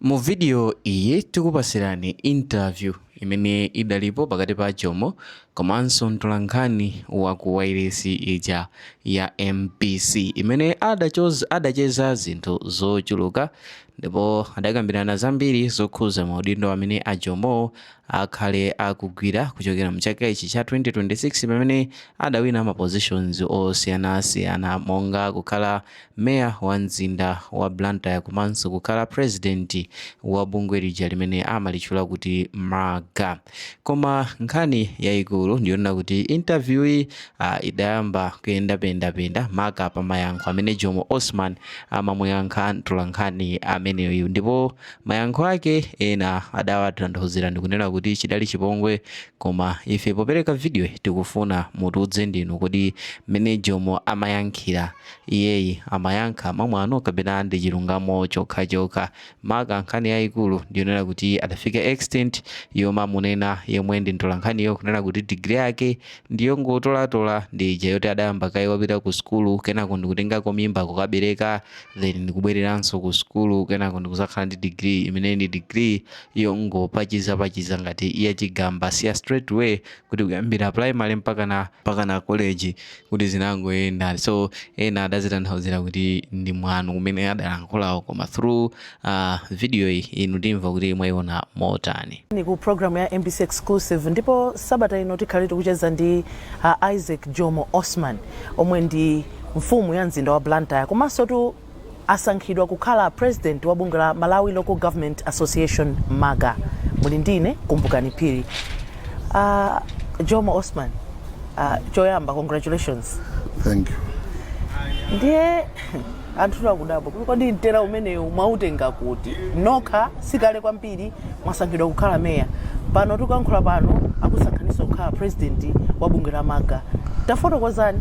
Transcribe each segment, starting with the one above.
Mu video iyi tikupasirani interview imene idalipo pakati pa Jomo komanso mtolankhani wa ku wailesi ija ya MBC imene adachoza adacheza zinthu zochuluka ndipo adakambirana zambiri zokhuza maudindo amene a Jomo akhale akugwira kuchokera mchaka ichi cha 2026 pamene adawina ma positions osiyanasiyana monga kukhala meya wa mzinda wa Blantyre komanso kukhala president wa bungwe lija limene amalitchula kuti MALGA. Koma nkhani yayikulu ndiyonena kuti interview yi uh, idayamba kuyenda pendapenda maka pa mayankho amene Jomo Osman amamuyankha mtolankhani ameneyu ndipo Mayankho ake ena adawatanthauzira ndikunena kuti chidali chipongwe koma ife popereka videoyi tikufuna mutiuze ndinu kodi mmene Jomo amayankhira iyeyi amayankha mwamwano kapena ndichilungamo chokhachokha maka nkhani yaikulu ndiyonena kuti adafika extent yomamunena yemwe ndi mtolankhaniyo kunena kuti degree yake ndiyongotolatola ndi ija yoti adayamba kaye wapita kusukulu kenako ndikutengako mimba kukabereka then ndikubwereranso ku sukulu kenako ndikuzakhala ndi degree imene ndi degree yongopachiza pachiza ngati ya chigamba siya straight way kuti kuyambira primary mpaka na mpaka na college kuti zinangoyenda so ena adazitanthauzira kuti ndi mwano kumene adalankhulawo koma through uh, video iyi inu timva kuti mwayiona motani ni ku programu ya mbc exclusive ndipo sabata ino tikhale tikucheza ndi uh, isaac jomo osman omwe ndi Mfumu ya mzinda wa Blantyre komansotu asankhidwa kukhala President wa bungwe la Malawi Local Government Association, MALGA. Muli ndi ine Kumbukani Phiri. Uh, Jomo Osman, uh, choyamba congratulations. Thank you. Ndiye anthu akudabwa kuti kodi mtera umenewu mwautenga kuti? Nokha sikale kwambiri. mwasankhidwa kukhala meya. Pano tikuyankhula pano akusankhaninso kukhala president wa bungwe la MALGA. Tafotokozani.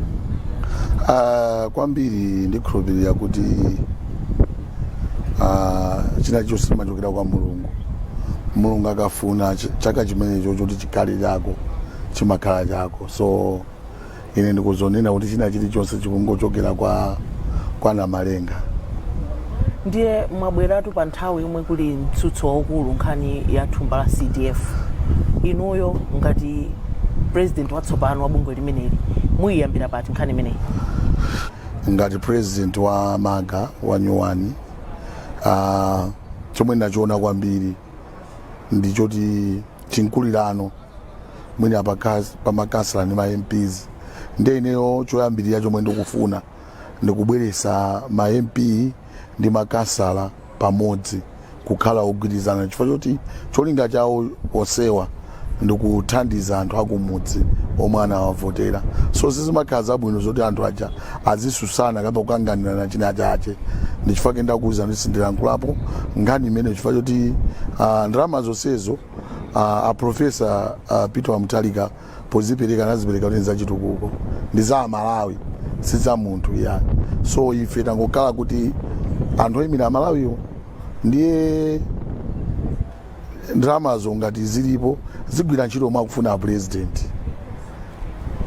Aaa kwambiri ndikhulupirira kuti aaa china chilichonse chimachokera kwa Mulungu. Mulungu akafuna ch- chaka chimenecho choti chikhale chako chimakhala chako. So Ine ndikuzonena kuti china chilichonse chikungochokera kwa kwa Namalenga. Ndiye mwabweratu pa nthawi yomwe kuli mtsutso waukulu nkhani ya thumba la CDF. Inuyo ngati president watsopano wa bungwe limeneli muyiyambira pati nkhani imeneyi? Ngati president wa MALGA wa nyuwani uh, chomwe ndinachiona kwambiri ndi choti chinkulirano mwina pakas- pa makansala ndi ma mps ndiye ineyo choyambirira chomwe ndikufuna ndi kubweresa ma mp ndi makansala pamodzi kukhala ogwirizana chifukwa choti cholinga chawo onsewa ndi kuthandiza anthu akumudzi omwe anawavotera so sizimakhala zabwino zoti anthu aja azisusana kapa kukanganirana china chache ndichifukwa chake ndakuwuzani kuti sindilankhulapo nkhani imene chifukwa choti uh, ndalama zonsezo uh, aprofesa uh, peter mutharika pozipereka anazipereka kuti ndi zachitukuko ndi za amalawi si za munthu iyayi so ife tangokhala kuti anthu oyimira amalawiwo ndiye ndalamazo ngati zilipo zigwira ntchito momwe akufuna apulezidenti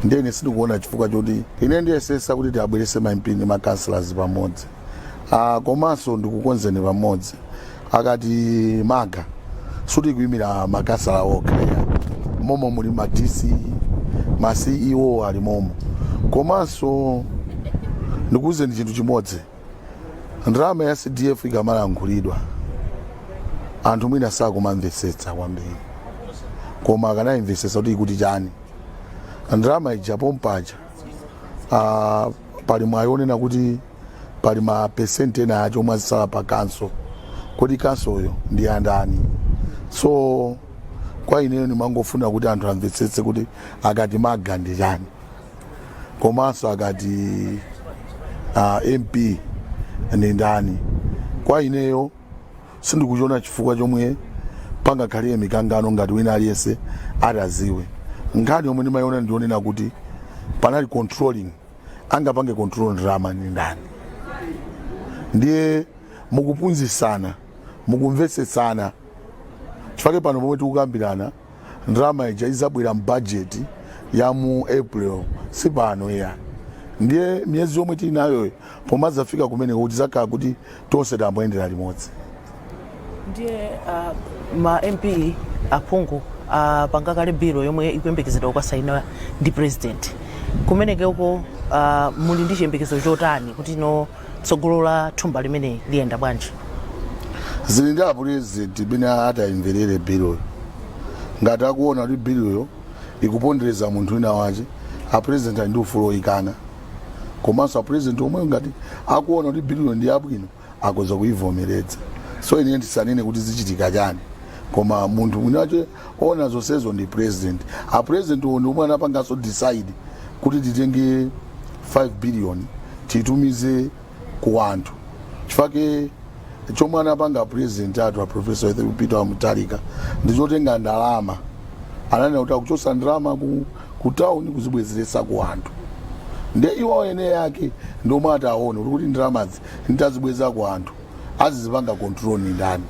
ndiye ine sindikuona chifukwa choti ine ndiyesesa kuti tiabwerese ma mp ndi ma councillors pamodzi Ah, komanso ndikukonzeni pamodzi akati maga sikuti ikuimira makansala okha ayi. momo muli ma dc ma ceo ali momo komanso ndikuwuzeni chinthu chimodzi ndalama ya cdf ikamalankhulidwa anthu mwina sakumamvetsetsa kwambiri koma akanayimvetsetsa kuti ikuti chani ndalama ija pompaja ah, pali mwayi onena kuti pali ma percent ena ache omwe azisala pa khonsolo kodi khonsoloyo ndi andani so kwa ineyo ndimangofuna kuti anthu amvetsetse kuti akati maga ndi chani komanso akati uh, mp ndi ndani kwa ineyo sindikuchiona chifukwa chomwe pangakhale mikangano ngati wina aliyense ataziwe nkhani yomwe ndimayiona ndi yonena kuti panali controlling angapange control ndalama ndi ndani ndiye mukuphunzitsana mukumvetsetsana chifukwa pano pomwe tikukambirana ndalama ija izabwera mu bajeti ya mu april si pano iyayi ndiye miyezi yomwe tili nayoyi pomazafika kumeneko tizakhala kuti tonse tayamba kuyendera limodzi ndiye uh, ma mp aphungu apanga kale bilo yomwe ikuyembekezedwa kukasainidwa ndi president kumenekeko uh, muli ndi chiyembekezo chotani kuti no Tsogolo la thumba limeneli liyenda bwanji? Zili ndi apulezidenti mmene atayimverere biloyo. Ngati akuona kuti biloyo ikupondereza munthu wina wache, apulezidenti ali ndi ufulu oyikana. Komanso apulezidenti omwewo ngati akuona kuti biloyo ndi yabwino akoza kuyivomeredza. So ine ndisanene kuti zichitika chani koma munthu winawache ona zonsezo ndi president a president iwo ndi omwe anapanganso decide kuti titenge 5 billion titumize ku anthu chifake chomwe anapanga president athu a professor peter wa mutharika ndi chotenga ndalama ananena kuti akuchosa ndalama ku, ku town kuzibwezeretsa ku anthu nde iwo ene yake ndomwe ataone kuti ndalamazi nditazibweza ku anthu azizipanga control ni ndani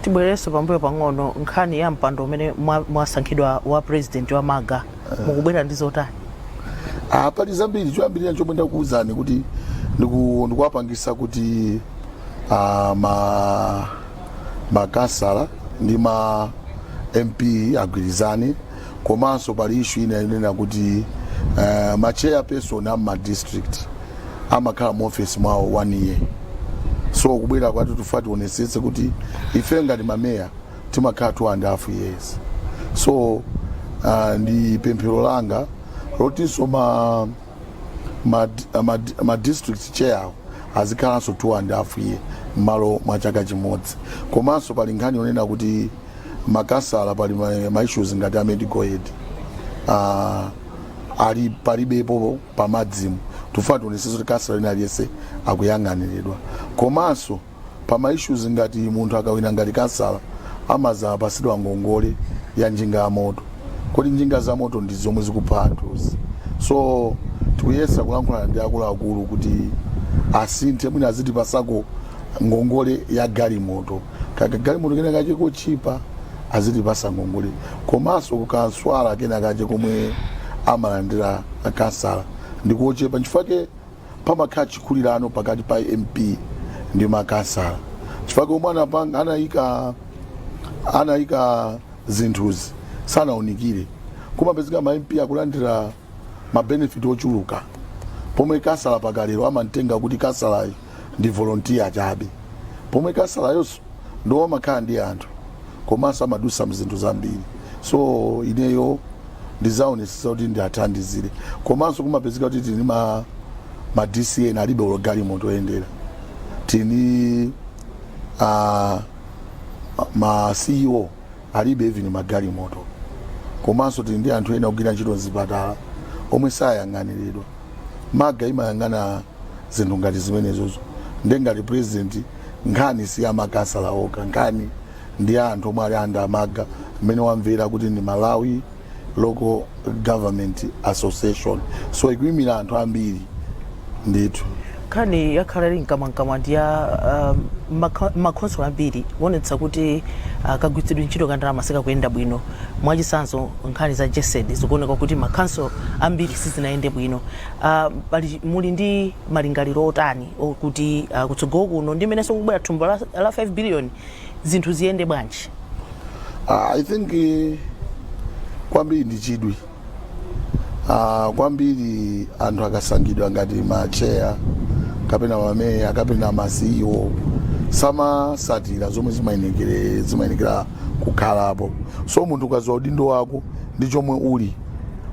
tibwererenso pambuyo pang'ono nkhani ya mpando umene mwa- mwasankhidwa wa president wa malga mukubwera ndi zotani Ah, pali zambiri choyambirira chomwe ndakuwuzani kuti ndiku- ndikuwapangisa kuti ah, ma makansala ndi ma mp agwirizane komanso pali issue ina yonena kuti uh, ma chairperson a ma district amakhala mu office mwawo one year so kubwera kwathu tifuna tionesetse kuti ife ngati mameya timakhala two and a half years so uh, ndi pemphero langa lotinso ma, ma, ma, ma district chair awo azikhalanso two and a half year mmalo mwa chaka chimodzi komanso pali nkhani yonena kuti makasala pali ma- ma issues ngati a medical aid uh, ali palibepo pamadzimu tifuna tionesese kuti kasala wina aliyese akuyang'aniridwa komanso pa ma issues ngati munthu akawina ngati kasala amazapasidwa ngongole ya njinga ya moto kodi njinga za moto ndi zomwe zikupha anthuzi so tikuyesa kulankhula ndi akuluakulu kuti asinthe mwina azitipasako ngongole ya galimoto ka- kagalimoto kena kache kotchipa azitipasa ngongole komanso kamswahala kena kache komwe amalandira akansala ndi kochepa nchifukwake pamakhala chikulirano pakati pa mp ndi makansala chifukwake omwe anapanga anayika anayika zinthuzi sanaunikire kumapezeka ma mp akulandira mabenefit ochuluka pomwe kasala pakalero amamtenga kuti kasalayo ndi volontiya chabe pomwe kasalayonso ndiwo amakhala ndi anthu komanso amadusa mzinthu zambiri so ineyo ndizaonesesa kuti ndiathandizire komanso kumapezeka kuti tili ndi ma, ma dc ena alibe olo galimoto yoyendera tili ndi uh, ma ceo alibe even magalimoto komanso tili ndi anthu ena ogwira ntchito mzipatala omwe sayang'aniridwa malga imayang'ana zinthu ngati zimenezozo nde ngati president nkhani si ya makasala okha nkhani ndi ya anthu omwe ali under malga mmene wamvera kuti ndi malawi local government association so ikuimira anthu ambiri ndithu nkhani yakhala ili mkamwamkamwa ndi ya um, makha- makhonsolo ambiri kuonetsa kuti uh, kagwiritsidwe ntchito ka ndalama sikakuyenda bwino mwachitsanzo nkhani za jesed zikuoneka kuti makhonsolo ambiri sizinayende bwino uh, pali, muli ndi malingaliro otani okuti uh, kutsogolo kuno ndi mmenenso kubwera thumba la, la 5 billion zinthu ziyende bwanji Ah, I think eh, kwambiri ndi chidwi Ah, kwambiri anthu akasankhidwa ngati macheya kapena mameya kapena ma CEO samasatira zomwe zimayenekere zimayenekera kukhalapo so munthu ukadziwa udindo wako ndi chomwe uli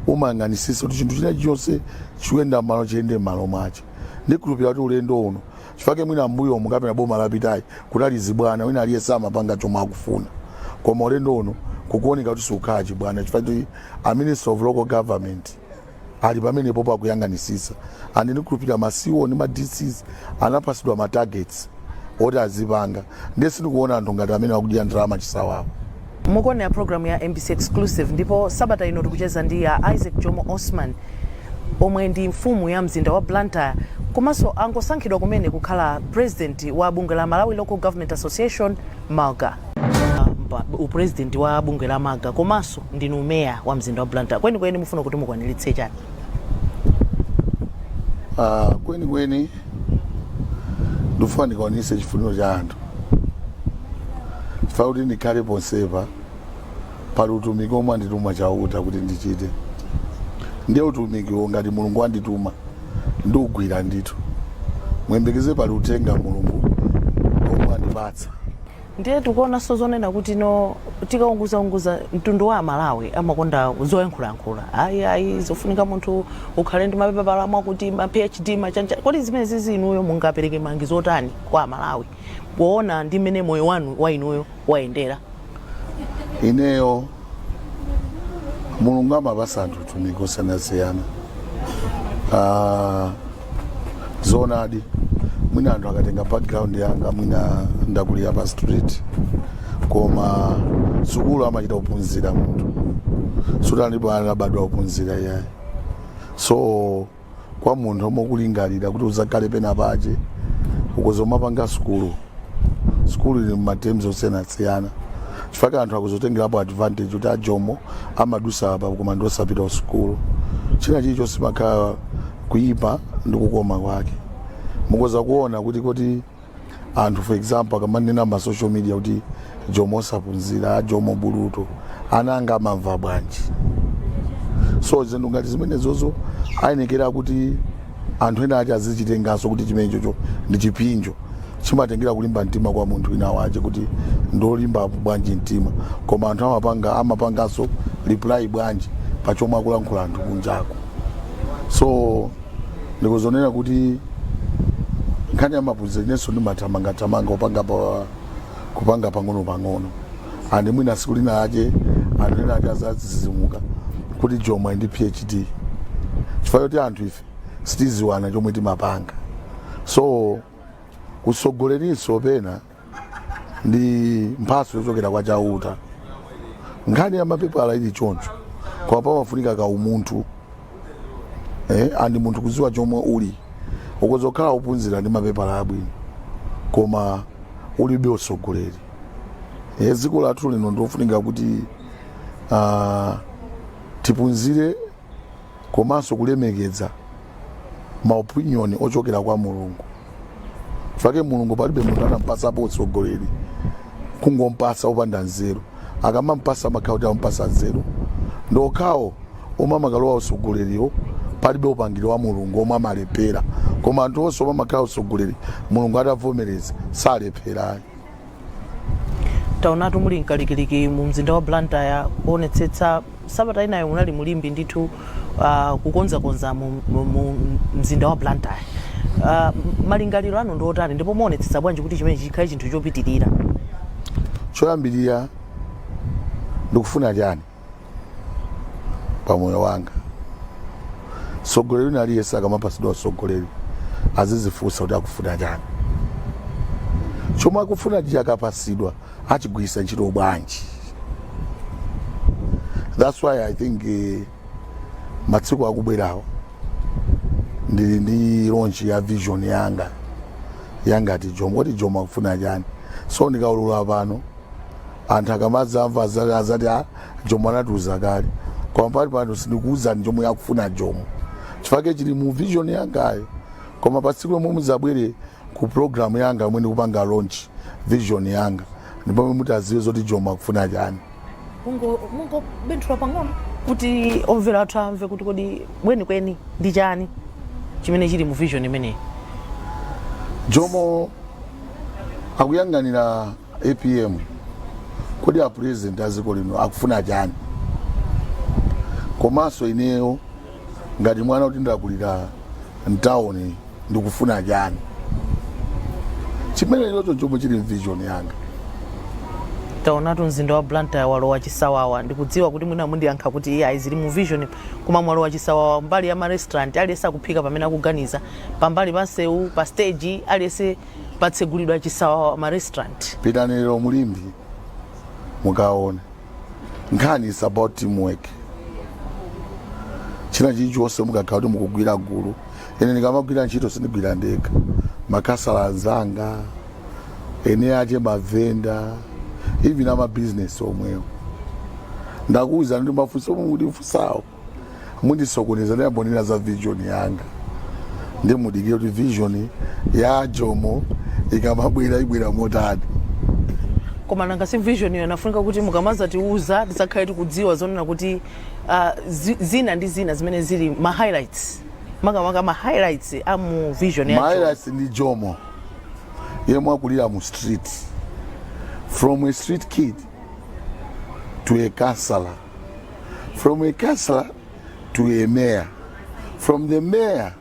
umayang'anisisa kuti chinthu china chonse chikuyenda m'malo chiyende m'malo mwache ndikhulupira kuti ulendo uno chifake mwina mbuyomu kapena boma lapitayi kunali zibwana wina aliyese amapanga chomwe akufuna koma ulendo uno kukuoneka kuti sikukhala chibwana chifake kuti a minister of local government ali pamenepopo akuyang'anisisa and ndikhulupirira ma CEO ndi ma dcs anapasidwa ma targets oti azipanga ndiye sindikuona anthu ngati amene akudya ndalama chisawawa Mukuonera program ya mbc Exclusive ndipo sabata ino tikucheza ndi a Isaac Jomo Osman omwe ndi mfumu ya mzinda wa Blantyre komanso angosankhidwa kumene kukhala president wa bungwe la Malawi Local Government Association, Malga. Pa u president wa bungwe la Malga komanso ndinu mayor wa mzinda wa Blantyre, kwenikweni mufuna kuti mukwaniritse chani? Ah, kwenikweni ndikufuna ndikwanise chifuniro cha anthu chifukwa kuti ndikhale ponsepa pali utumiki omwe andituma chauta kuti ndichite ndiye utumikiwo ngati mulungu andituma ndiugwira ndithu muyembekeze pali uthenga mulungu omwe andipatsa ndiye tikuonanso zonena kuti no tikaunguzaunguza mtundu wa amalawi amakonda zoyankhulayankhula ayi ayi zofunika munthu ukhale ndi mapepala mwakuti ma phd machanja kodi zimenezizi inuyo mungapereke malangizo otani kwa amalawi poona ndi mmene moyo wanu wa inuyo wayendera ineyo mulungu amapasa anthu utumiki osiyanasiyana Ah, zoonadi mwina anthu akatenga background yanga mwina ndakulira pa street koma sukulu amachita kuphunzira munthu palibe anabadwa ophunzira iyayi so kwa munthu omwe ukulingalira kuti uzakhale pena pache ukhoza kumapanga sukulu sukulu ili m'ma terms osiyanasiyana chifukwa anthu akuzotengerapo advantage kuti ajomo amadusa apa koma ndi osapita kusukulu china chilichonse chimakhala kuyipa ndi kukoma kwake mukoza kuona kuti kuti anthu for example akamanena ma social media kuti jomo sapunzira jomo buluto ana anga amamva bwanji so zinthu ngati zimenezozo ayenekera kuti anthu ena ache azichitenganso kuti chimenechocho ndi chipinjo chimatengera kulimba mtima kwa munthu wina wache kuti ndolimbapo bwanji mtima koma anthu amapanga amapanganso reply bwanji pa chomwe akulankhula anthu kunjako so ndikuzonena kuti nkhani ya maphunziro inenso ndimathamangathamanga kupanga pa kupanga pang'ono-pang'ono andi mwina siku lina lache anthu ena ake azazizimuka kuti jomo ali ndi phd chifukwa choti anthu ife sitiziwana chomwe timapanga so utsogolerinso pena ndi mphatso yochokera kwa chauta nkhani ya mapepala ili choncho koma pamafunika ka umunthu eh, andi munthu kuziwa chomwe uli ukoza kukhala opunzira ndi mapepala abwino koma ulibe usogoleri eh, dziko lathu lino ndiofunika kuti ah, tipunzire komanso kulemekeza ma opinion ochokera kwa mulungu chifukwa chake mulungu palibe munthu anampasapo utsogoleri kungompasa opanda nzeru akamampasa amakhala kuti ampasa nzeru ndi okhawo omwe amakalowa utsogoleriwo palibe upangiri wa mulungu omwe amalephera koma anthu onse omwe amakhala utsogoleri mulungu atavomereza salephera ayi taonatu muli mkalikiliki mu mzinda wa blantyre kuonetsetsa sabata inayo munali mu limbe ndithu uh, kukonzakonza mu, mu, mu mzinda wa blantyre uh, malingaliro anu ndi otani ndipo muonetsetsa bwanji kuti chimene chikhale chinthu chopitirira choyambirira ndikufuna chani pa moyo wanga mtsogoleri wina aliyense akamapatsidwa utsogoleri azizifunsa kuti akufuna chani chomwe akufuna icho akapatsidwa achigwiritsa ntchito bwanji that's why i think eh, matsiku akubwerawo ndili ndi launch ya vision yanga yangati jomo kuti jomo akufuna chani so ndikaulula pano anthu akamadzamva aza- azati a jomo anatiuza kale koma panipano sindikuuzani chomwe akufuna jomo chifake chili mu vision yangayo koma pa tsiku lomwe muzabwere ku programu yanga yomwe ndikupanga launch vision yanga ndi pomwe mutaziwe zoti jomo akufuna chani mungo mungobenthula pang'ono kuti omvera athu amve kuti kodi kwenikweni ndi chani chimene chili mu vision imeneyi jomo akuyang'anira apm kodi a president a dziko lino akufuna chani komanso ineyo ngati mwana kuti ndakulira mtawuni ndikufuna chani chimenechocho chomwe chili mvision yanga taonatu mzinda wa blantyre walowa chisawawa ndikudziwa kuti mwina mundiyankha kuti iyayi zili mu vision koma mwalowa chisawawa mbali ya marestaurant aliyense akuphika pamene akuganiza pambali pa nsewu pa stage aliyense patsegulidwa chisawawa ma restaurant. Pitani lero mu Limbe mukaone nkhani is about teamwork. China chilichonse mukakhala kuti mukugwira gulu, ine ndikamagwira ntchito sindigwira ndekha, makhansala anzanga ene ache mavenda even amabizinesi omwewo ndakuwuzani kuti mafunso omwe mukundifunsawo mundisokoneza ndiyambonena za vision yanga ndi mudikire kuti vision ya jomo ikamabwera ibwera motani koma nanga si vision iyo inafunika kuti mukamazatiuza tizakhale tikudziwa zonena kuti ah, zi- zina ndi zina zimene zili ma highlights makamaka ma highlights a mu vision ya Jomo. mahighlights ndi jomo yemwe wakulira mu street from a street kid to a councillor from a councillor to a mayor, from the mayor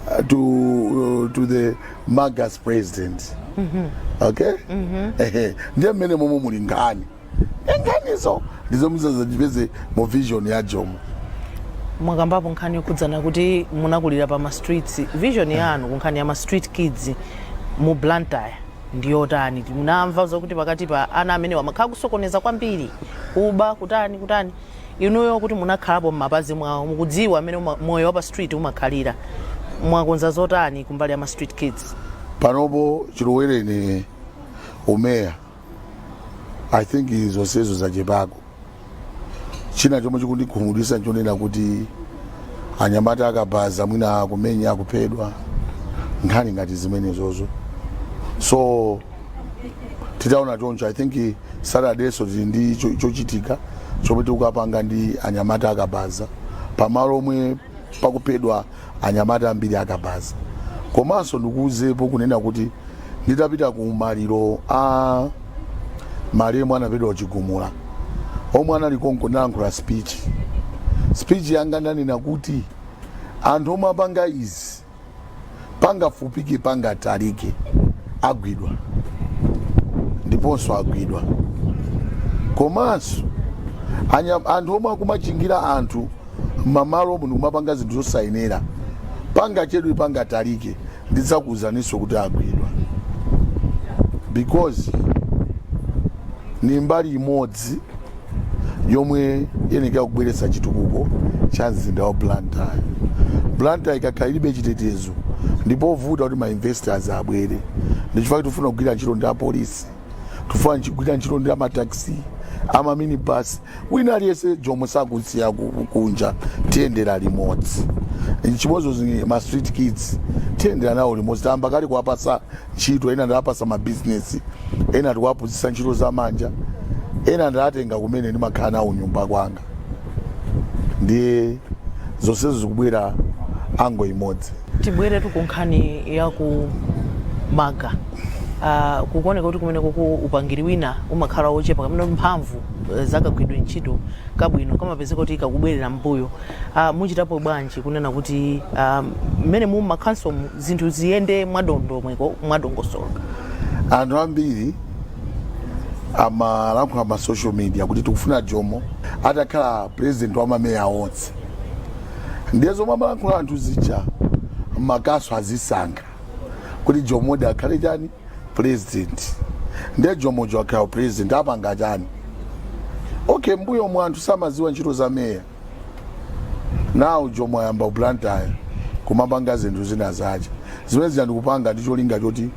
uh, to uh, to the MALGA's president. Okay? Ehe, ndiye mmene momwe muli nkhani nkhanizo ndi zomwe muzazipeze mu vision ya jomo mwakambapo nkhani yokhudzana kuti munakulira pa ma streets vision yanu ku nkhani ya ma street kids mu blantyre ndi yotani? Tinamva zokuti pakati pa ana amenewa pamakhala kusokoneza kwambiri, kuba, kutani, kutani. Inuyo kuti munakhalapo m'mapazi mwawo, mukudziwa m'mene uma, moyo wa pa street umakhalira. Mwakonza zotani kumbali ya ma street kids? panopo chilowereni umeya i think zonsezo zachepako china chomwe chikundikhumudwitsa nchonena kuti anyamata akabaza mwina akumenya akuphedwa nkhani ngati zimenezozo so titaona choncho i think saturdayso tili ndi cho- chochitika chomwe tikukapanga ndi anyamata akabaza pamalo omwe pakuphedwa anyamata ambiri akabaza komanso ndikuuzepo kunena kuti nditapita ku maliro a malemu omwe anaphedwa ku chigumula omwe anali konko ndinalankhula speech speech yanga ndanena kuti anthu omwe apanga izi pangafupike pangatalike agwidwa ndiponso agwidwa komanso anya- anthu omwe akumachingira anthu mamalomu ndi kumapanga zinthu zosayenera pangachedwe pangatalike ndidzakuuzaninso kuti agwidwa because ni mbali imodzi yomwe iyenekera kubweretsa chitukuko cha mzinda wa blantyre blantyre ikakhala ilibe chitetezo ndipovuta kuti mainvestors abwere ndichifukwa tifuna kugwira ntchito ndi apolisi tifuna nchi- kugwira ntchito ndi amataxi amaminibus wina aliyense jomo sakusiya ku- kunja tiyendera limodzi chimodzimodzi ma street kids tiyendera nawo limodzi tayamba kale kuwapasa ntchito, ena ndawapasa mabizinesi, ena tikuwaphunzitsa ntchito za manja, ena ndawatenga kumene ndimakhala nawo kunyumba kwanga. Ndiye zonsezo zikubwera angle imodzi. Tibweretu ku nkhani ya ku Malga. Ah, kukuoneka kuti kumeneko ku upangiri wina umakhala wochepa kapena kuti mphamvu eh, za kagwiridwe ntchito kabwino kamapezeka kuti kakubwerera m'mbuyo. Ah, muchitapo bwanji kunena kuti ah, mmene mu makhansomu zinthu ziyende mwadondomeko, mwadongosolo. Anthu ambiri amalankhula ma social media kuti tikufuna Jomo atakhala president wa mameya onse, ndiye zomwe amalankhula anthu zija makhanso azisankha kuti Jomodi akhale chani president, ndiye Jomoyo akhala president apanga chani? Okay, mbuyomu anthu samaziwa ntchito za meya. now jomo wayamba ku blantyre kumapanga zinthu zinazake zimenezi ndikupanga ndi cholinga choti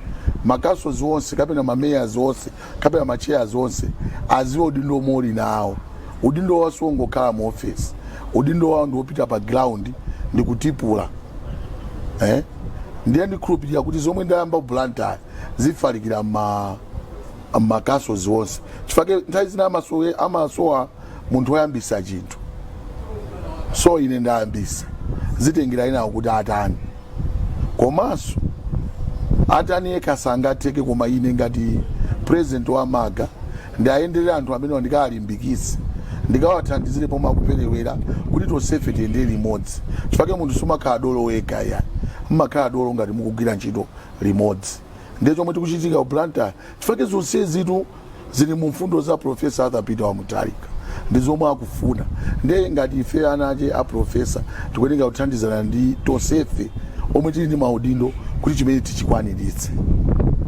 macouncils onse kapena mamayors onse kapena machairs onse aziwe udindo omwe ali nawo udindo wawo siwongokhala mu ofesi udindo wawo ndiwopita pa ground ndi kutipula eh? ndiye ndikhulupirira kuti zomwe ndayamba ku blantyre zifalikira ma macouncils onse chifukwa nthawi zina amasowe amasowa munthu woyambisa chinthu so ine ndayambisa zitengera enawo kuti atani komanso atani yekha sangatheke koma ine ngati president wa malga ndiwayenderera anthu amenewa ndikawalimbikitse ndikawathandizire pomwe akuperewera kuti tonsefe tiyendere limodzi chifukwa munthu sumakhala dolo wekha ayi mmakhala dolo ngati mukugwira ntchito limodzi ndiye chomwe chikuchitika ku blantyre chifake zonsezitu zili mu mfundo za profesa arthur peter wa mutalika ndi zomwe akufuna ndiye ngati ife anache a profesa tikuyeneka kuthandizana ndi tonsefe omwe tili ndi maudindo kuti chimene tichikwaniritse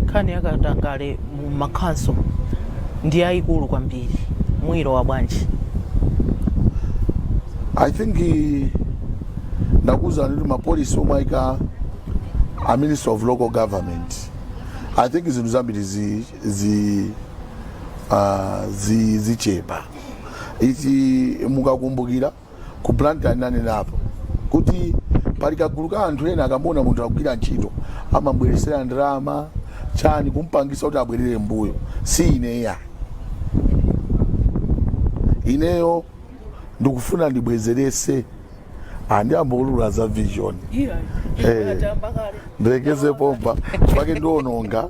nkhani yakatangale mu makhonsolo ndi yayikulu kwambiri muyilowa bwanji i think eh, ndakuwuzani kuti ma policy omwe ayika a ministry of local government i think zinthu zambiri zi, zi, uh, zi, zichepa ichi mukakumbukira ku blantyre nanenapo kuti pali kagulu ka anthu ena akamuona munthu akugwira ntchito amamubweresera ndalama chani kumpangisa kuti abwerere mbuyo si ineya ineyo ndikufuna ndibwezerese Ah, ndiyambo ulula za vision Eh. ndilekeze pompa chifake ndiononga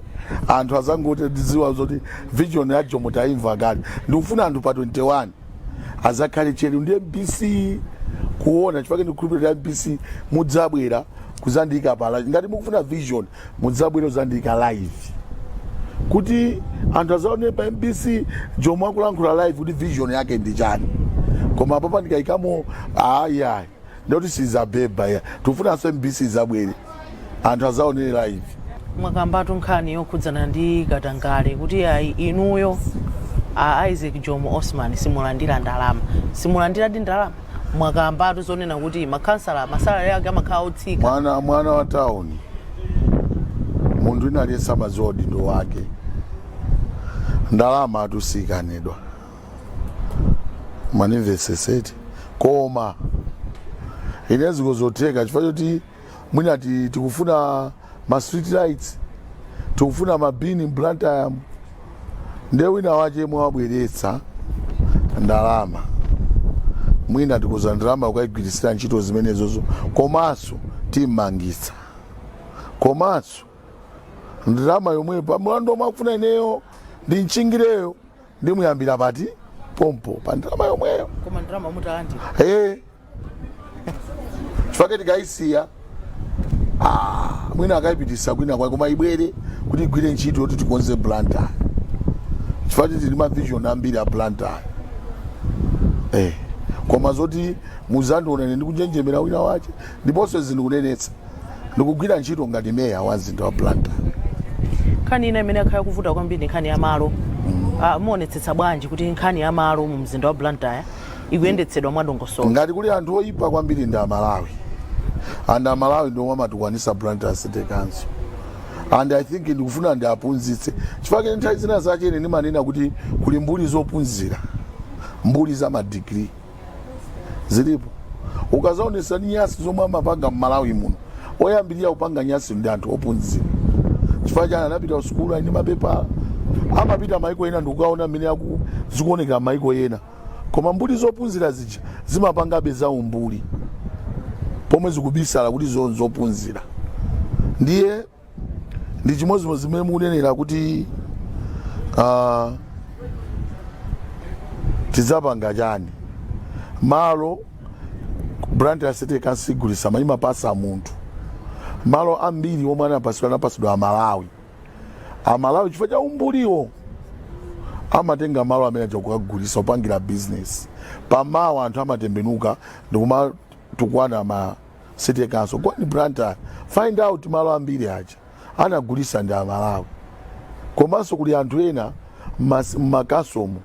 anthu azangoti taziwa zoti vision ya jomo taimva kale ndikufuna anthu pa 21 azakhale tcheru ndi mbc kuona chifake ndikukhulupirira mbc mudzabwera kuzandiyika pa live ngati mukufuna vision Mudzabwere udzandiika live kuti anthu azaonere pa mbc jomo akulankhula live kuti vision yake ndi chani koma apapa ndikayikamba ayayi ndikuti sizabeba ya tikufunanso mbc izabwere anthu azaonere live mwakambatu nkhani yokhudzana ndi katangale kuti ayi inuyo a isaac jomo osman simulandira ndalama simulandiradi ndalama mwakambatu zonena kuti makhansala ma salary ake amakhala otsika mwana mwana wa town munthu wina aliyense amadziwa udindo wake ndalama atu siyikanidwa mundimvesesetu koma ine ziko zotheka chifukwa choti mwina ti- tikufuna ma street lights tikufuna ma bin blantyre nde wina wache mwina wabweretsa ndalama mwina tikuuza ndalama ukayigwirisira ntchito zimenezozo komanso timmangitsa komanso ndalama yomweyo pa mulandu omwe akufuna ineyo ndi ntchingireyo ndimuyambira pati pompo pa ndalama yomweyo koma ndalama mutalandira Eh. chifake tikayisiya ah, mwina akayipitisa kwina kwake koma ibwere kuti igwire ntchito yoti tikonze blantyre chifake tili ma vision ambiri a blantyre eh. koma zoti muzandione ine ndikunjenjemera wina wache ndiponso ndikunenetsa ndikugwira ntchito ngati meya wa mzinda wa Blantyre. Nkhani ina imene yakhala ikuvuta kwambiri ndi nkhani ya malo. Ah, Muonetsetsa bwanji kuti nkhani ya malo mu mzinda wa Blantyre ikuyendetsedwa mwadongosolo? Ngati kuli anthu oyipa kwambiri ndi Amalawi, Amalawi ndiomwe amatukwanisa Blantyre City Council and I think ndikufuna ndiaphunzitse chifukwa chake nthawi zina zachezo ndimanena kuti kuli mbuli zophunzira mbuli za madigiri zilipo ukazaonesesa nyasi zomwe amapanga m'Malawi muno oyambirira kupanga nyasi ndi anthu ophunzira chifukwa chani anapita kusukulu ali ndi mapepala amapita maiko ena ndikukaona mmene zikuonekera maiko ena koma mbuli zophunzira zija zimapangabe za umbuli pomwe zikubisala kuti izo nzophunzira ndiye ndi chimodzimodzi zimene mukunenera kuti ah, tidzapanga chani malo Blantyre City Council siigulisa ayi imapasa munthu malo ambiri omwe anapasidwa anapasidwa amalawi amalawi chifukwa cha umbuliwo amatenga malo amene aja kukagulisa opangira business pamawa anthu amatembenuka ndikumatukwana Blantyre City Council go and blantyre find out malo ambiri aja anagulisa ndi amalawi komanso kuli anthu ena mas- m'makhonsolo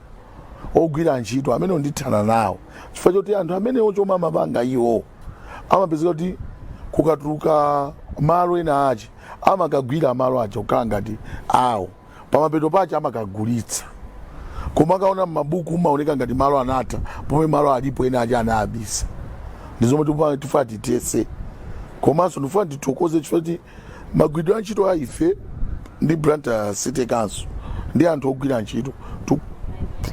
ogwira ntchito amene ndithana nawo chifukwa choti anthu amenewo chomwe amapanga iwo amapezeka kuti kukatuluka malo ena ache amakagwira malo aja kukhala ngati awo pamapeto pache amakagulitsa koma ukaona m'mabuku amaoneka ngati malo anatha pomwe malo alipo ena aja anawabisa ndi zomwe tifa- tifuna tithetse komanso ndifuna tithokoze chifukwa choti magwiridwe a ntchito a ife ndi Blantyre city council ndi anthu ogwira ntchito tu-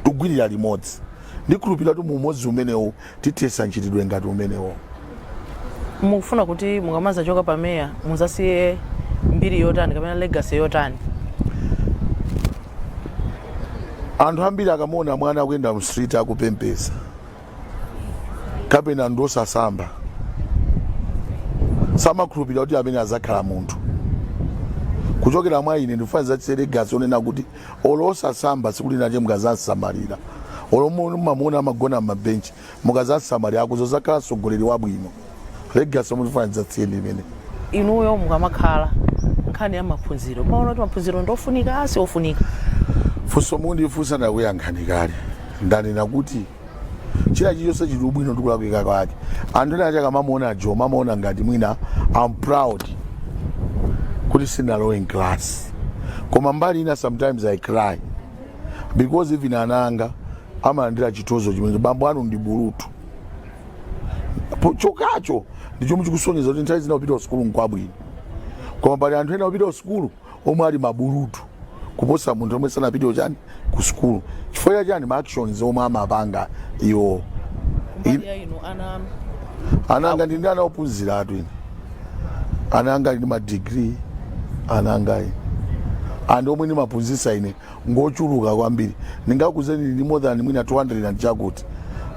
tugwirira limodzi ndikhulupirira kuti mu umodzi umenewu Tithetsa mchitidwe ngati umenewo. Mukufuna kuti mukamazachoka pa meya muzasiye mbiri yotani kapena legacy yotani? Anthu ambiri akamaona mwana akuyenda mu street akupemphetsa kapena ndi osasamba samakhulupirira kuti amene azakhala munthu kuchokera mwa ine ndifuna ndizasiye legacy onena kuti olo osasamba tsiku lina lache mukazamsamalira olo mu- mamuona amagona m'mabenchi mukazamsamalira akuzazakhala mtsogoleri wabwino legacy yomwe ndifuna ndizasiye ndi imeneyo inuyo mukamakhala nkhani ya maphunziro maona kuti maphunziro ndofunika si ofunika funso mundifunsa ndakuyankhani kale ndanena kuti china chilichonse chili ndi ubwino ndi kulakwika kwake anthu ena akamamuona Jomo amaona ngati mwina I'm proud kuti sinalowe in class koma mbali ina sometimes i cry because even ana anga amalandira chitozo chimene bambo anu ndi bulutu chokhacho ndi chomwe chikusonyeza kuti nthawi zina kupita kusukulu nkwabwino koma pali anthu ena kupita kusukulu omwe ali mabulutu kuposa anthu omwe sanapitewo chani ku sukulu chifukwa cha chani ma actions omwe amapanga iwo mbali ya inu ana anu ana anga ndi ndi ana ophunziratu ine ana anga ali ndi madigiri ana anga ine anthu omwe ndimaphunzitsa ine ngochuluka kwambiri ndingakuuzeni ndi more than mwina 200 and chakuti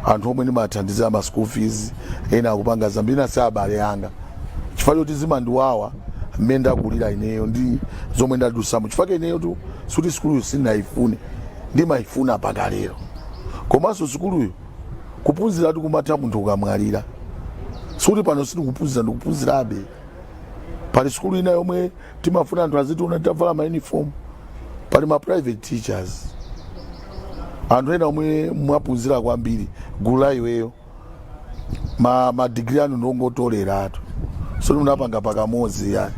anthu omwe ndimathandizira ma school fees ena akupanga zambiri ena si abale anga chifukwa choti zimandiwawa mmene ndakulira ineyo ndi zomwe ndadusamo chifukwa ke ineyotu sikuti sukuluyo sindinayifune ndimayifuna mpaka lero komanso sukuluyo kuphunziratu kumatha munthu ukamwalira sikuti pano sindikuphunzira ndikuphunzirabe pali sukulu ina yomwe timafuna anthu azitiona titavala ma uniform pali ma private teachers anthu ena omwe munaphunzira kwambiri gulu la iweyo ma, ma degree anu ndongotoleratu sikuti munapanga pakamodzi ayi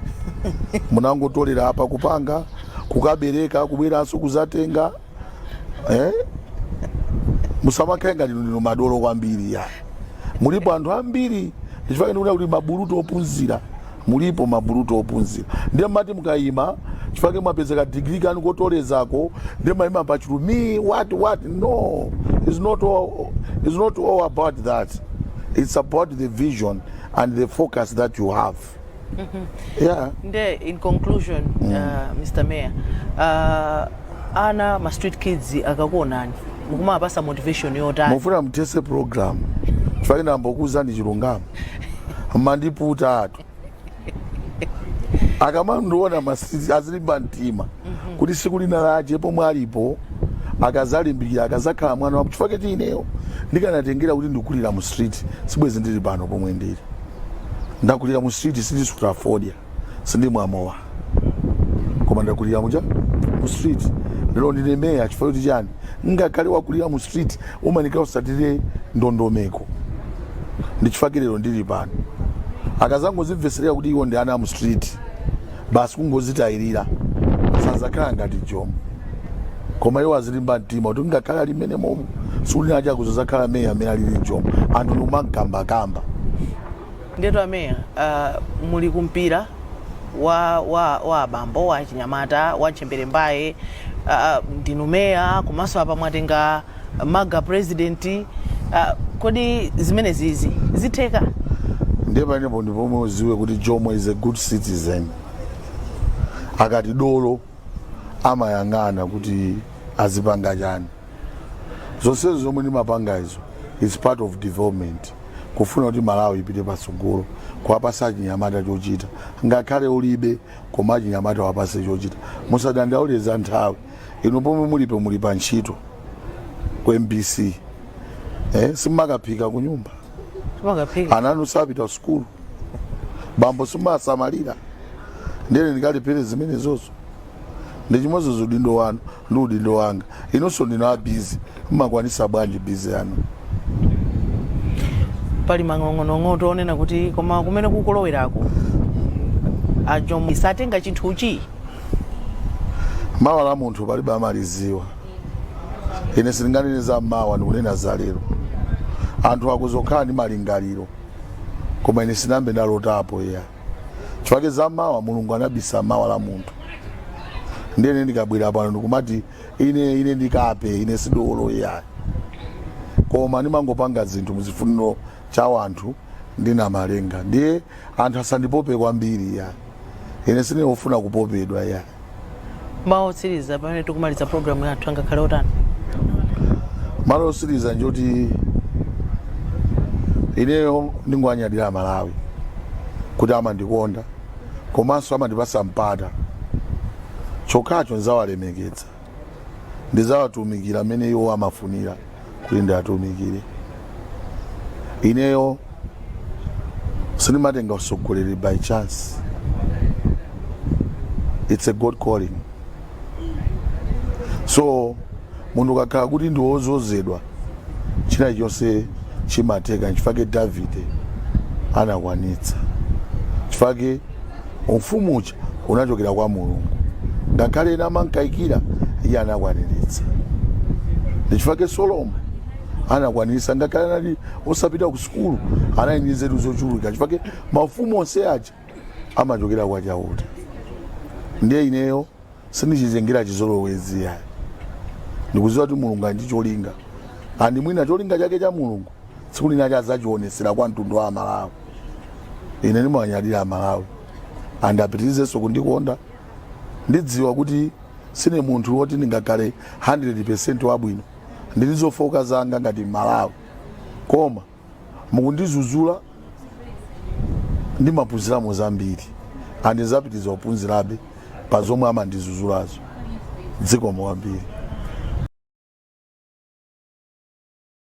munangotolera apa kupanga kukabereka kubweranso kuzatenga eh? musamakhale ngati ndinu madolo kwambiri ya mulipo anthu ambiri ndichifukwa ndikuti mabulutu opunzira mulipo mabulutu ophunzira ndiye mumati mukayima chifukwa mwapezeka digiri yanu kotolerako ndiye mayima pachulu me what what no it's not all, it's not all about that it's about the vision and the focus that you have yeah nde in conclusion uh, mr mayor uh, ana ma street kids akakuonani mukumawapasa motivation yotani mufuna muthese program chifukwa ine ndingokuuzani chilungamo mwandiputatu akamandiona must azilimba mtima kuti siku lina lache pomwe alipo akazalimbikira akazakhala mwana wa chifukwa choti ineyo ndikanatengera kuti ndikulira mu street sibwezi ndili pano pomwe ndili ndakulira mu street sindisuta fodya sindimwa mowa koma ndakulira muja mu street lero ndine meya chifukwa choti chani ngakhale wakulira mu street umayenera usatire ndondomeko ndi chifukwa lero ndili pano akazangozimveserera kuti iwo ndi ana a mu street basi kungozitayirira sazakhala ngati jomo koma iwo azilimba mtima kuti ngakhale ali mmenemo siku lina lake azakhala meya mmene alili jomo anthu ndikumamkambakamba ndetu ameya uh, muli kumpira wa, wa, wa abambo wa achinyamata wa ntchembere mbaye uh, ndinu meya komanso apa mwatenga maga president ah, kodi zimene zizi zitheka ndiye panepo ndi pomwe udziwe kuti jomo is a good citizen akati dolo amayang'ana kuti azipanga chani zonsezo zomwe ndimapanga izo is part of development kufuna kuti malawi ipite patsogolo kuwapasa achinyamata chochita ngakhale ulibe koma achinyamata wapatse chochita musadandaule za nthawi inu pomwe mulipo muli pa ntchito ku mbc simumakaphika ku nyumba Timakaphika. ana anu sapita sukulu bambo simumasamalira ndiye ine ndikalipire zimenezozo ndi chimodzimodzi udindo wanu ndi udindo wanga inunso ndinu a busy Mmakwanisa bwanji busy yanu? Pali manong'onong'o onena kuti koma kumene kukulowerako a Jomo satenga chinthuchi? Mawa la munthu palibe amaliziwa. Ine sindinganene za mawa ndikunena za lero. Anthu akhoza kukhala ndi malingaliro koma ine sindinayambe ndalotapo iya. Chifukwa za mawa Mulungu anabisa mawa la munthu. Ndiye ine ndikabwera pano ndikumati ine ine ndi kape ine si dolo iyayi koma ndimangopanga zinthu muchifuniro cha wanthu ndi namalenga ndiye anthu asandipope kwambiri iyayi ine sine ofuna kupopedwa iyayi mawu otsiriza pamene tikumaliza programu yathu angakhale otani mawu osiriza njoti ineyo ndingowanyadira amalawi kuti amandikonda komanso amandipasa mpata chokhacho ndidzawalemekeza, ndidzawatumikira mmene iwo amafunira kuti ndiwatumikire. Ineyo sindimatenga usogoleri by chance, it's a God calling. So munthu ukakhala kuti ndi wozozedwa china chonse chimatheka nchifake davide anakwanitsa chifake umfumu uja unachokera kwa mulungu ngakhale ena amankaikira iye anakwaniritsa ndichifake solomo anakwaniritsa ngakhale anali osapita ku sukulu anali ndi nzeru zochuluka chifake mafumu onse aja amachokera kwa chauta ndiye ineyo sindichitengera chizolowezi yayi ndikuziwa kuti mulungu ali ndi cholinga and mwina cholinga chake cha mulungu tsiku lina adzachiwonetsera kwa mtundu wa amalawi ine ndimawanyadira amalawi and apitirizenso kundikonda ndidziwa kuti sine munthu woti ndingakhale 100 percent wabwino ndili ndi zofooka zanga ngati mmalawi koma mukundizuzula ndimaphunziramo zambiri and ndidzapitiriza kuphunzirabe pa zomwe amandizuzulazo zikomo kwambiri